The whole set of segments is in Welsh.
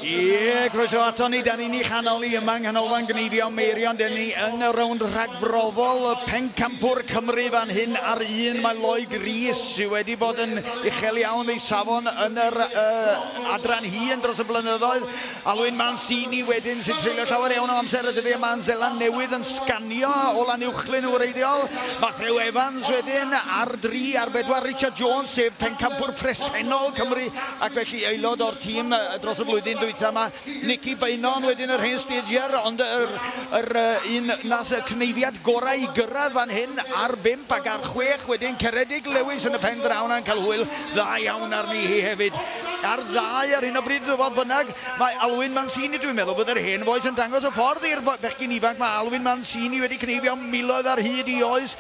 Ie, croeso ato ni, da ni'n ei chanol ni yma yng Nghanolfan Gneifio Meirion, da ni yn y rownd rhagfrofol y pencampwr Cymru fan hyn ar un, mae Lloyd Rees sydd wedi bod yn uchel iawn ei safon yn yr uh, adran hyn dros y blynyddoedd, Alun Mancini wedyn sy'n treulio llawer iawn o amser y dyddiau yma yn Seland Newydd yn sganio o lan uwchlyn yn wreiddiol. Matthew Evans wedyn ar dri ar bedwar, Richard Jones sef pencampwr presennol Cymru ac felly aelod o'r tîm dros y flwyddyn dwytha yma, Nicky Beynon wedyn yr hen stager ond yr yr un nath y cneiddiad gorau i gyrraedd fan hyn ar bump ac ar chwech wedyn Ceredig Lewis yn y pen draw 'na yn cael hwyl dda iawn arni hi hefyd. ar ddau ar hyn o bryd, fodd bynnag, mae Alwyn Mancini, dwi'n meddwl bod yr hen fois yn dangos y ffordd i'r bechgyn ifanc, mae Alwyn Mancini wedi cneifio miloedd ar hyd i oes,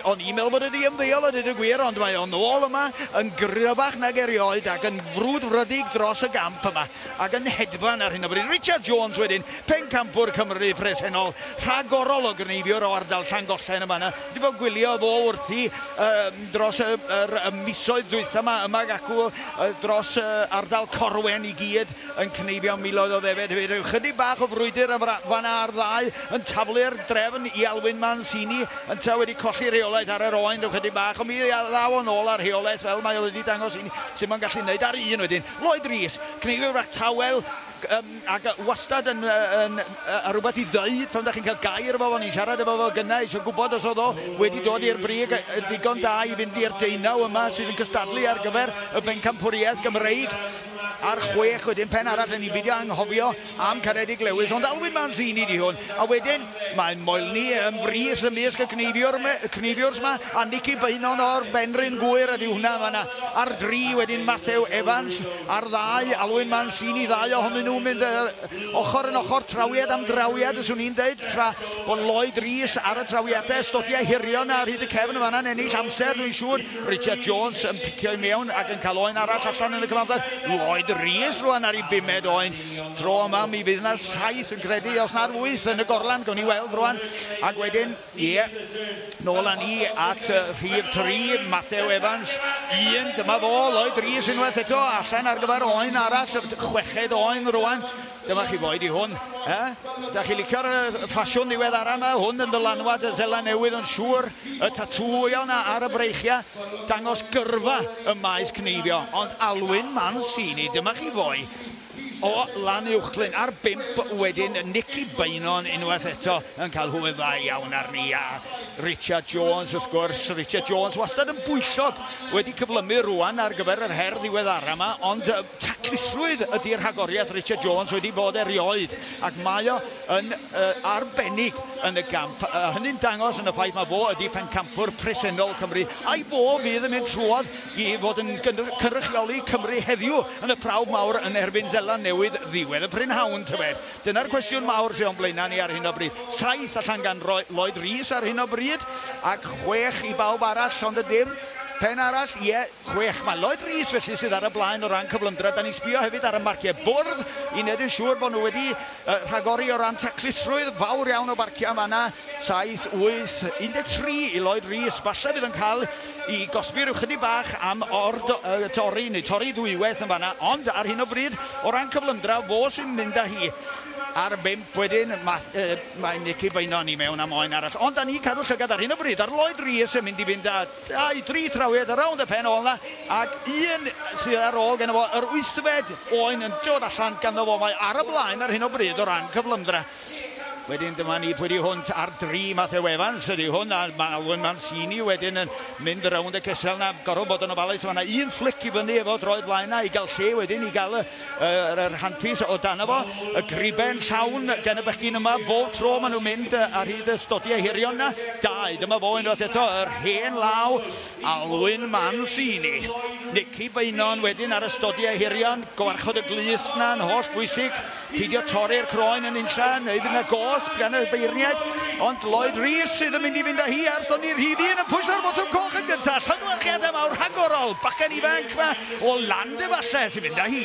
o'n i'n meddwl bod e 'di ymddeol a deud y gwir, ond mae o'n ôl yma yn gryfach nag erioed ac yn frwdfrydig dros y gamp yma ac yn hedfan ar hyn o bryd. Richard Jones wedyn, pencampwr Cymru presennol, rhagorol o gneifiwr o ardal Llangollen yn fan'na, dwi 'di bod yn gwylio fo wrthi, dros y yr y misoedd dwytha yma yma ac acw yy dros yy ardal Corwen i gyd yn cneifio miloedd o ddefed hefyd. Ryw chydig bach o frwydr yn fara- fan 'na ar ddau yn taflu'r drefn i Alwyn Mancini ynta wedi colli rheolaeth ar yr oen ryw chydig bach ond mi a- ddaw o nôl â rheolaeth fel mae o wedi dangos i ni sut mae'n gallu neud ar un wedyn. Lloyd Rees, cneifiwr fach tawel, Yym ac yy wastad yn yy yn yy a rwbeth i ddeud pan dach chi'n cael gair efo fo, o'n i'n siarad efo fo gynnau isio gwbod os o'dd o wedi dod i'r brig yy yn ddigon da i fynd i'r deunaw yma sydd yn cystadlu ar gyfer y Bencampwriaeth Gymreig a'r chwech wedyn pen arall yn ni'n beidio anghofio am Caredig Lewis ond Alwyn Manzini 'di hwn a wedyn Mae'n moelni yn frith ymysg y cneifiwr yma, a Nicky Beynon o'r Benrhyn Gŵyr ydyw hwnna yn fan'na ar dri, wedyn Matthew Evans ar ddau, Alwyn Mancini, ddau ohonyn nhw'n mynd ochr yn ochr, trawiad am drawiad fyswn i'n dweud, tra bod Lloyd Rees ar y trawiadau ystodiau hirion ar hyd y cefn yn fan'na'n ennill amser dwi'n siŵr, Richard Jones yn picio i mewn ac yn cael oen arall allan yn y cyfamser, Lloyd Rees rwan ar ei bumed oen. Tro yma mi fydd yna saith yn credu, os nad wyth yn y gorlan, gawn ni weld rwan. Ac wedyn, ie, yeah, nôl â ni at uh, rhif tri, Matthew Evans, un, dyma fo, Lloyd Rees unwaith eto, allan ar gyfer oen arall, chweched oen rwan. Dyma chi foed i hwn. E? Da chi licio'r ffasiwn ddiwedd ara yma, hwn yn dylanwad y Zela Newydd yn siŵr, y tatŵio yna ar y breichiau, dangos gyrfa y maes cneifio, ond Alwyn Mancini, dyma chi foe, o lan uwchlyn ar bump wedyn, Nicky Beynon unwaith eto yn cael hwyl dda iawn arni a Richard Jones wrth gwrs, Richard Jones wastad yn bwyllog, wedi cyflymu rwan ar gyfer yr her ddiweddara yma ond taclusrwydd ydi'r rhagoriaeth Richard Jones wedi bod erioed ac mae o yn uh, arbennig yn y gamp a hynny'n dangos yn y ffaith mae fo ydi pencampwr presennol Cymru a'i fo fydd yn mynd trwodd i fod yn cynrychioli Cymru heddiw yn y prawf mawr yn erbyn Seland Newydd ddiwedd y prynhawn, tybed? Dyna'r cwestiwn mawr sydd o'n blaenau ni ar hyn o bryd. Saith allan gan Lloyd Rees ar hyn o bryd, ac chwech i bawb arall, ond ydym? Pen arall? Ie, chwech. Mae Lloyd Rees felly sydd ar y blaen o ran cyflymder, a da ni'n sbio hefyd ar y marciau bwrdd i wneud yn siŵr bod nhw wedi rhagori o ran taclusrwydd fawr iawn o barciau yn fan'na. Saith, wyth, 13 i Lloyd Rees, falle bydd yn cael i gosbi rhyw chydig bach am ord y torri neu torri ddwywaith yn fanna ond ar hyn o bryd o ran cyflymdra fos i'n mynd â hi ar bump wedyn ma, e, mae Nicky Beynon ni mewn am oen arall ond da ni cadw llygad ar hyn o bryd ar Lloyd Rees yn mynd i fynd â dau dri thrawiad rownd y pen ôl na ac un sydd ar ôl gen fo yr wythfed oen yn dod allan ganddo fo mae ar y blaen ar hyn o bryd o ran cyflymdra Wedyn dyma ni, pwy di hwnt ar dri, Matthew Evans ydi hwn, a mae Alwyn Mancini wedyn yn mynd rownd y cysel na, gorfod bod yn ofalus, mae yna un fflic i fyny efo droed flaen na i gael lle wedyn i gael y, y, y, y rhantus o dan efo, y griben llawn gan y bechgyn yma, bob tro maen nhw'n mynd ar hyd y stodiau hirion na, dau, dyma fo unwaith eto, yr hen law, Alwyn Mancini. Nicky Beynon wedyn ar y stodiau hirion, gofarchod y glust na'n holl bwysig, Peidio torri'r croen yn unlla, neu fydd yna gosb gan y beirniaid, ond Lloyd Rees sydd yn mynd i fynd â hi ar soni'r rhif un yn pwyso'r botwm coch yn gyntaf, llongyfarchiadau mawr rhagorol, bachgen ifanc 'ma o Land efallai sy'n mynd â hi.